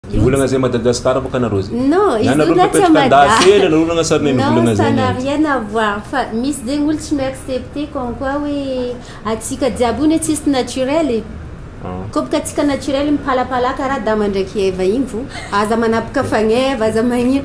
Ny volana zay Madagascar baka nareo zay. Non, izy nareo mipetraka andafela nareo nagna sary neny volana zay. Non, ça n'a rien à voir. Fa misy zegny olo tsy mi-accepter comme quoi hoe atsika jiaby ony tsisy naturel e. Koa baka atsika naturel mipalapalaka ra Adama ndraiky Eva igny vo aza manapaka fagneva, aza magnino.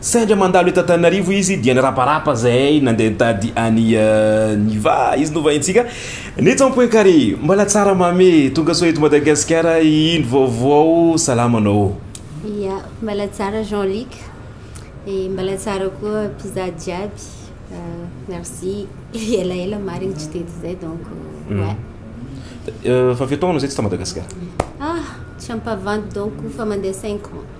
Sendra mandalo eto Antananarivo izy dia nirabaraba zahay nandeha nitady an'i Niva izy novahintsika ny tompoy kary mbala tsara mamy tonga soa eto Madagasikara ino vaovao salama anao Ya, mbala tsara Jean Luc, et mbala tsara koa mpizaha jiaby, merci elaela marigny tsy teto zay donc ouais. Efa firy taona zay tsy ta Madagasikara? Ah, tsy ampavandy donc fa mandeha cinq ans.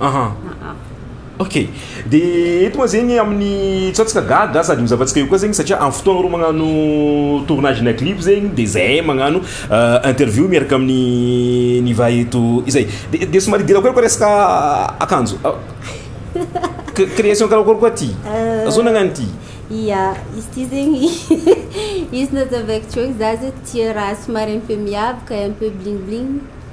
aha ok de eto moa zegny amin'ny tsatsika gaga sady mizavantsika eo koa zegny satria amin'ny fotoagna reo magnano tournage na clip zegny de zahay magnano euh, interview miaraka amin'ny niva eto izay de de somary idirako eo koa resaka akanjo Cr- création karakory koa ty Euh, zao nagnano ty Ia, izy ty zegny izy nazavaiko teo za zao tia raha somary un peu miavaka un peu bling bling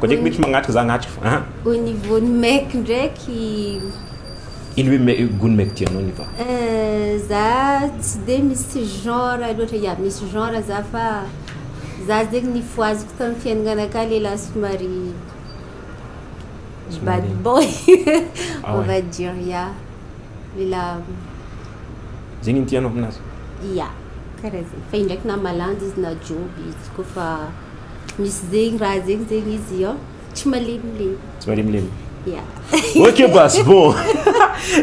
Koa dia mety magnatrika za agnatrika fa an. Au niveau ny mec ndraiky. Ilo hoe me- gony mec ty anao niva. Euh, za tsy dia misy genre loatra, ya misy genre za fa za zegny nifohaziko tamin'ny fiainana akany lehilahy somary bad Somary- boy Ah on ouais. va dire ya lehilahy Zegny ny tianao aminazy. ya karaha zegny fa indraiky na malandy izy na joby izy koa fa Misy zegny raha zegny zegny izy io tsy malemilemy. Tsy malemilemy. Yeah. ok ba c'est bon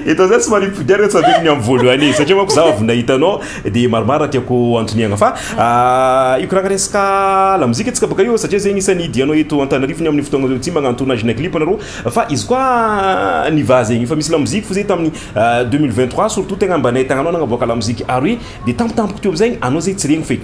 eto zany tsy manipody ary tsadiko ny amin'ny voalohany e satria manko za avy nahita anao dia maromaro tiako antoniagna fa ah, io kiraka resaka lamozika antsika baka io satria zegny isan'ny idianao eto antanarifony amin'ny fotoagna zao tsy magnano tournage na clip anareo fa izy koa niva zegny fa misy lamozika fo zay tamin'ny 2023 ah, surtout tegna mba nahitagna anao nagnaboaka lamozika ary dia tampotampoka teo amizegny anao zay tsy regny feky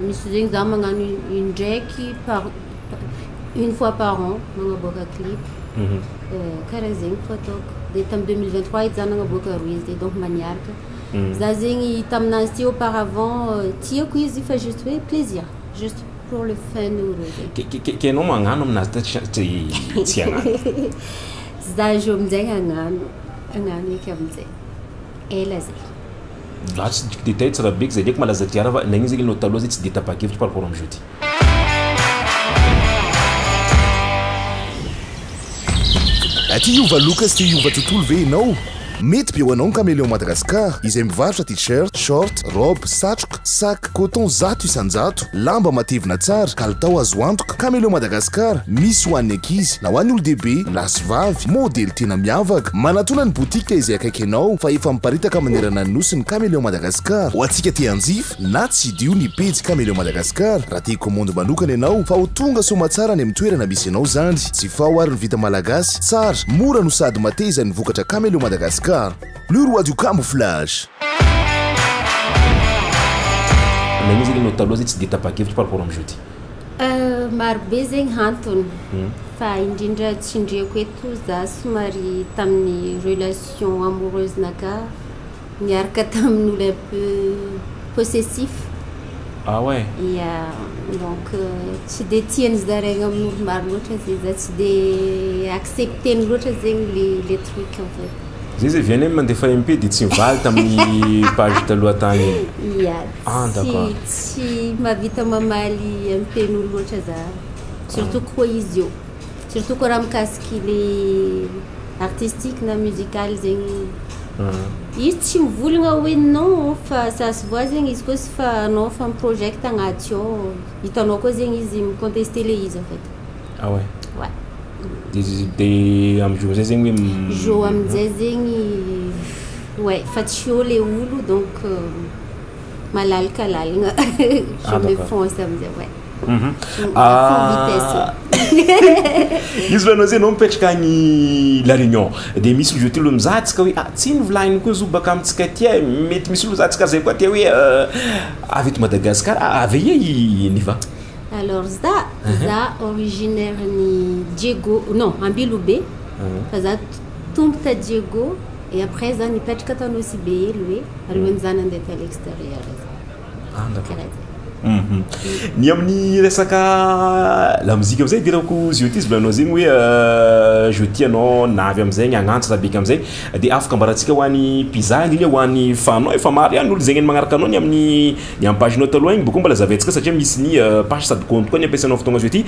Misy zegny za magnano indraiky par une fois par an magnaboaka clip mhm. euh, karaha zegny ko ataoko de tam 2023 edy za nagnaboaka roe izy de donc mba niaraka mhm. za zegny taminazy ty auparavant euh, tiako izy fa juste hoe plaisir juste pour le fun ou reo zegny kenao magnano aminazy ta tsy agnaty za zo aminjay agnano agnano eky aminjay ela zay Raha tsy de détail tsy raha be k'izay diako malaza diara fa nagnino zany enao taloha zay tsy de tapa-kevitra par rapport am'zao ty. Aty hiova look sy te hiova tontolo ve enao? Mety be ho anao ny Caméléon Madagascar izay mivarotra tee-shirt, short, robe, satroka, sac, coton zato isan-jato. Lamba matevina tsara, kalitao azo antoka, Cameleo Madagascar, misy ho an'ny ankizy na ho an'ny olon-dehibe, lahy sy vavy, modely tena miavaka. Manatona ny botika izay akaiky anao fa efa miparitaka manerana ny Nosy ny Cameleo Madagascar. Ho antsika te hanjifa na tsidiho ny pejy Cameleo Madagascar raha te hikomandy manokana ianao fa ho tonga soamatsara any amin'ny toerana misy anao izany. Jifao ary ny vita malagasy, tsara, mora no sady mateza ny vokatra Cameleo Madagascar. Le roi du camouflage. Ilay hoe zay le nao taloha zay tsy dia tapa-kevitra par rapport am jeudi. Euh, marobe zegny hantony. Fa indrindra tsindriako eto za somary tamin'ny relation amoureuse naka niaraka tamin'olo un peu possessif. Ah ouais? Ya, donc tsy dia tian'ny zaraigna amin'olo maro loatra zay za, tsy dia accepter-ny loatra zegny le le truc en fait. Zay zay VNM mandefa MP dia tsy mivaly tamin'ny page taloha tany iny. Ia. Ah d'accord. Tsy mahavita mamaly MPn'olo loatra za. Surtout koa izy io. Surtout koa raha mikasiky le artistique na musical zegny. Izy tsy mivolagna hoe non fa ça se voit zegny izy koa izy fa anao fa project agnaty ao. Hitanao koa zegny izy mi-contester le izy en fait. Ah ouais. Ouais. De de am jour zay zegny hoe jour amin'izay zegny ouais fa tsy eo le olo donc euh, malalaka lalagna je me fonce amin'izay ouais. Mhm. Ah. izy lohanao zay nao mipetraka agny la réunion de misy olo zotilo mizatsika hoe ah tsy novolagny koa zo baka amintsika aty e mety misy olo zatsika zay koa te hoe euh, avy eto madagasikara ah, avy aia i niva Alors za, za originaire ny Diego, non, Ambilobe, fa za tompo ta Diego, et après za nipetraka ta Nosy be elo hoe, alohan'ny za nandeha tany exterieur za. Ah d'accord. Ny amin'ny resaka lamozika amizay idirako zio ity zvola anao zegny hoe je tia anao na avy amizegny agnantsy na beka amizay de afaka ambarantsika hoany mpizaha indrindra hoany fanao e fa maro iany olo zegny magnaraka anao ny amin'ny Ny amin'ny page notes aloha igny koa mbola zavaintsika satria misy ny page sady compte koa ny ampiasainao fotoagna azo ity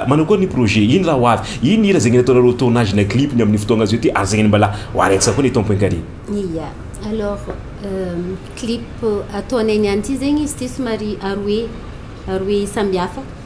manao akory ny projet ino raha ho avy? ino ny hira zegny nataonareo tournage na clip ny amin'ny fotoagna azo ity azaigny mbala oharintsika koa ny tompo inkare. Ia, alors clip ataonay niany ity zegny izy ity somary aroe aroe sambihafa.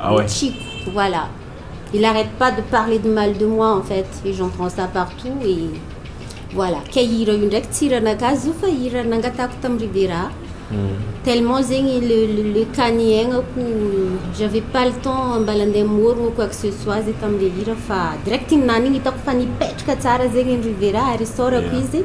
Ah ouais. Chico, voilà. Il arrête pas de parler de mal de moi en fait et j'entends ça partout et voilà. Kay hira io ndraiky tsy hira naka azy io fa hira nangatako tam Ribera. Mm. Tellement zegny le le, le kany aignako j'avais pas le temps mbala andeha morogno quoi que ce soit zay tam le hira fa direct iny nany iny hitako fa nipetraka tsara zegny ny Ribera ary isaorako yeah. izy.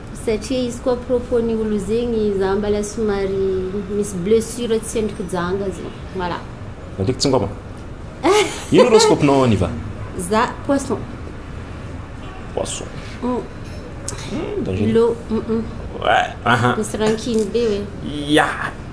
Satria izy koa propos ny olo zegny za mbala somary misy blessure tsy endriko janga zegny voilà. Alaiky tsingoma. Ino horoscope nao Niva? Za poisson. Poisson. Lo, misy rankiny be oe. Ya.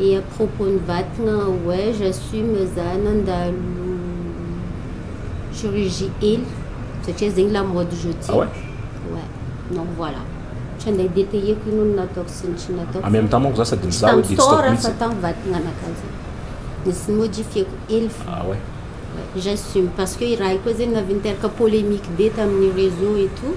Et à propos ny vatagna ouais j'assume za nandalo chirurgie ela satria zegny la mode je tiens. Ah ouais? Ouais donc voilà tsy andeha détailler-ko ino no nataoko sy ny tsy nataoko. En même temps manko za sady mizaha hoe dia tsy taoko mihitsy. Tsy tamin'ny store fa tamin'ny vatagna anakahy zegny. Nisy ny modifier-ko ela fô. Ah ouais? Ouais j'assume parce que i raha i koa zegny navy niteraka polemique be tamin'ny réseau et tout.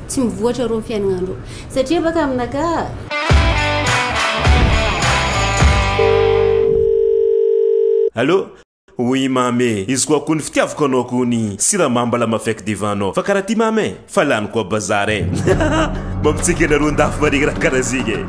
Tsy mivoatra rô ny fiainagna ndrô satria baka aminaka. Allô? Oui mamy e, izy koa kony fitiavako anao kony siramamy mba lama faiky devant anao fa karaha ty mamy e, fa lany koa bazar e. Mampitsiky anareo an-dafy marigny raha karaha zegny e.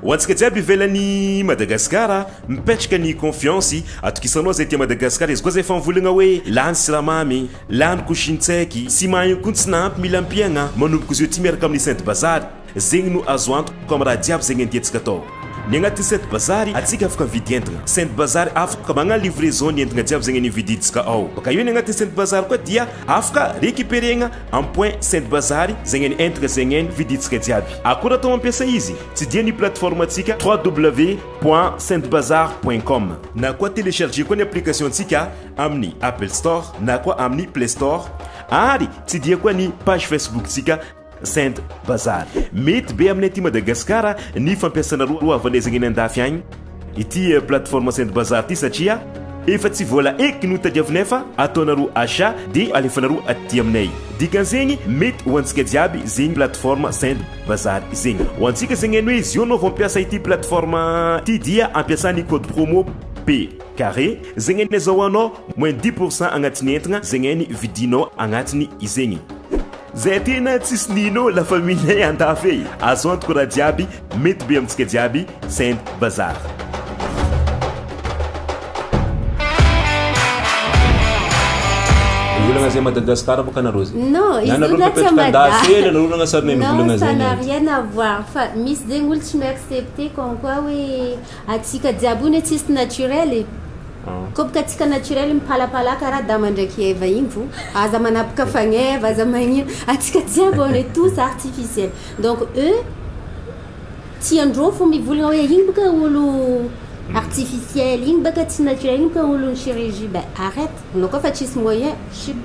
Ho antsika jiaby ivelan'i Madagasikara, mipetraka ny confiance, atokisanao zay aty Madagasikara, izy koa zay efa mivoligna hoe lany siramamy. Laniko Shinseki sy Maheno koa ny tsy nahampy mila ampiagna manomboka zeo ty miaraka amin'ny Sainte Bazary zegny no azo antoka amin'ny raha jiaby zegny andiantsika atao ny agnatin'ny Sainte Bazary atsika afaka mividy entagna Sainte Bazary afaka magna livraison ny entagna jiaby zegny nividintsika ao baka eo ny agnatin'ny Sainte Bazary koa dia afaka recuperegna amin'ny point Sainte Bazary zegny ny entagna zegny vidintsika jiaby akora atao mampiasa izy tsy dia ny plateforme antsika www point saintebazary point com na koa telecharger koa ny application antsika amin'ny Apple Store na koa amin'ny Play Store ary tsy dia koa ny page Facebook-tsika Saint Bazar. Mety be amin'ny aty Madagasikara ny fampiasana roa havanezagna eny andafy agny ity eh, plateforme Saint Bazar ity satria efa tsy vola eky no tadiavinay fa ataonareo achat dia alefanareo aty aminay. Dikan'izegny mety ho antsika jiaby zegny plateforme Saint Bazar zegny. Ho antsika zegny hainao izy io anao vao mampiasa ity plateforme ity dia ampiasa ny code promo P. Carré, zegny anie zao anao moins dix pour cent agnatin'ny entagna zegny any vidinao agnatiny izegny. Zay tena tsisy nino la famille andafy e! Azo antoko raha jiaby mety be amintsika jiaby Saint Bazar. Mivolagna zay Madagascar bôka anareo zay. Non, izy Ianareo olona tsy mipetraka Mada. andafy ela anareo nagnasarinay Non, mivolagna ça zay n'a nety. rien à voir. Fa misy zegny olo tsy mi-accepter comme quoi hoe Atsika jiaby one tsisy naturel e! Ko bka tsika naturel mipalapalaka ra dama ndraiky eva igny vo aza manapoka fagneva aza magnino atsika jiaby on est tous artificiel donc e tiandreo fo mivolagna oe igny bka olo artificiel igny bka tsy naturel igny bka olon'ny chirurgie ben arrete anao koa fa tsisy moyen chut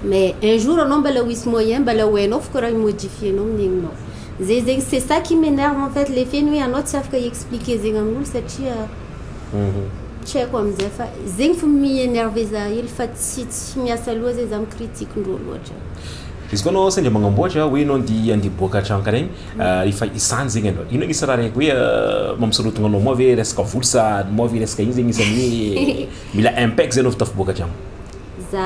mais un jour anao mbala ho hisy moyen mbala ho hainao fo ko raha hi-modifier-nao ny aignao Zay zegny c'est ça qui m'enerve en fait le fait ny hoe anao tsy afaka hi expliquer zegny amin'olo satria tsy haiko amin'izay fa zegny fo mi enerver za hely fa tsy tsy miasa loha zay za mi critique ndrô loatra. Izy koa anao sendra magnamboatra hoe enao andeha andeha hiboaka hatrany karaha igny ah, efa izany zegny aloha ino anisany raha raiky hoe ah, mampisorohogna anao moa ve resaka vola sa moa ve resaka ino zegny isan'ny hoe mila impec zay anao vao tafiboaka hatrany? Za.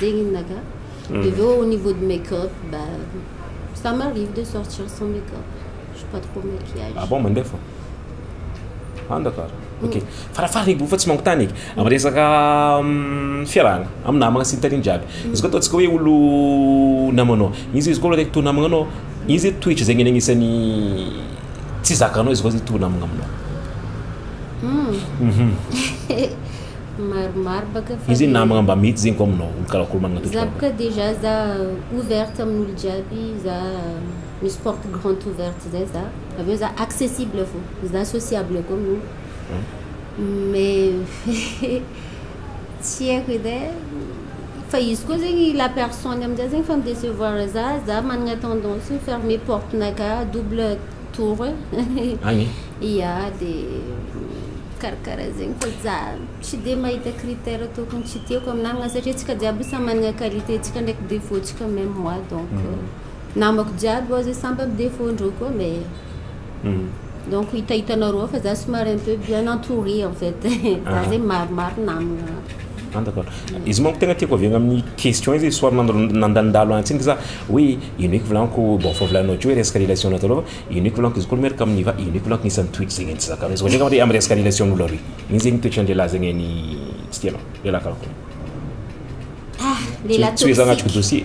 zegny ino naka de avy eo au niveau de make up ba ça m'arrive de sortir sans make up je suis pas trop maquillage ah bon mandeha fô ah d'accord ok farafara edy fa tsy mangotany eky am resaka fiarahana am namagna sy ny tariny jiaby izy koa ataontsika hoe olo namanao izy izy koa araiky to namagna anao izy toetra zegny anie agnisan'ny tsy zakanao izy koa zay to namagna aminao maromaro baka fa Izy namagna mba mety zegny koa aminao olo karakory managna toetra Za baka dejà za ouverte amin'olo jiaby za misy porte grande ouverte zay za avy eo za accessible fô za sociable koa amin'olo mais tsy haiko edy e fa izy koa zegny la personne amizay zegny fa mi-decevoir za za managna tendance fermer porte-nakà double tour agny ya de karakara zegny fa za tsy de mahita critère tokony tsy tiako am namagna satria tsika jiaby samy managna qualité tsika ndraiky défaut tsika même moi donc mm. namako jiaby oa zay samby am défaut ndreo koa mais mm. donc hitahitanareo fa za somary un peu bien entouré en fait za zegny maromaro namagna D'accord. Izy manko tegna tiako avy agny amin'ny question izy soir nandalondalo antsika za hoe ino eky volaniko bon fa volanao teo hoe resaka relation natao lôha fa ino eky volaniko izy koa miaraka amin'ny va ino eky volaniko isan'ny toetra zegny tsy zakanao izy koa amin'ny resaka relation an'olo aroy igny zegny toetran-dehilahy zegny an'ny tsy tianao lehilahy karakory ah lehilahy toxique tsy hoe za agnatriko dossier.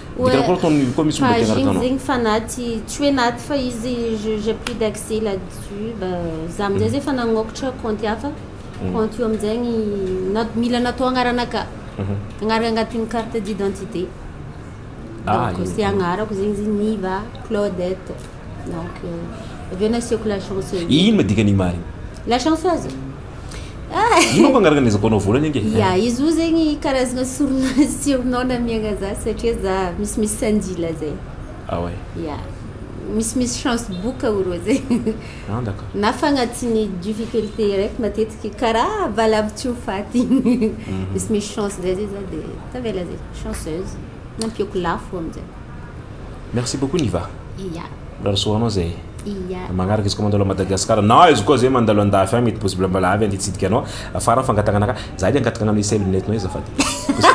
Dika raha foana ataony mivy koa misy olona dia hanaraka anao. Page zegny fa naty, tsy hoe naty fa izy je j'ai plus d'accès là dessus ba za amizay zay efa nagnokatra compte hafa, compte io amizegny na mila natao agnarana ka, agnarana agnatin'ny carte d'identité, donc ze agnarako zegny izy Niva Claudette. Donc, euh, avy eo nasiako la chance eo. Inona dikan'igny marina? La chance aza. Ah! Inona fa angaraka an'izako anao voalohany ange? Ya, izy io zegny karazagna sorona surnom namiagna za satria za misimisy sanjila zay. Ah ouais. Ya. Misimisy chance boka oro zay. Ah d'accord. Na fa agnatin'ny difficulté araiky matetiky karaha valavo tsy ho faty igny. Misimisy chance zay zay za dia tavela zay, chanceuse. Nampiako lafo am'zay. Merci beaucoup Niva. Iya. Mbola rosoanao zay. Iya. Magnaraka izy koa mandalo à Madagascar. Na izy koa zay mandalo andafy agny mety possible mbola avy anty hitsidika anao. Afara ny fangatagnana ka. Za edy angataka agnano essai lunette nao azafady. Possible.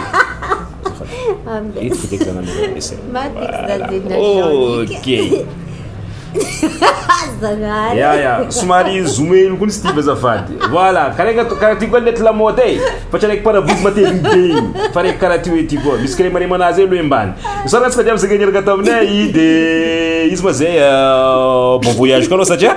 Azafady. Eto fideko za agnano essai. Maty izy za zay na Jean-Nic. Okay. Zagnahary. Ya ya, somary zoom hely koa ny Steve azafady. Voilà, karaha karaha ty koa net lamaody e. Fa tsy araiky parabouzy mateviny be igny. Fa araiky karaha ty hoe ty koa, misy kiremarema anazy eo loha mbany. Misaotra antsika jiaby zay niaraka taminay de izy ma zay bon voyage koa anao satria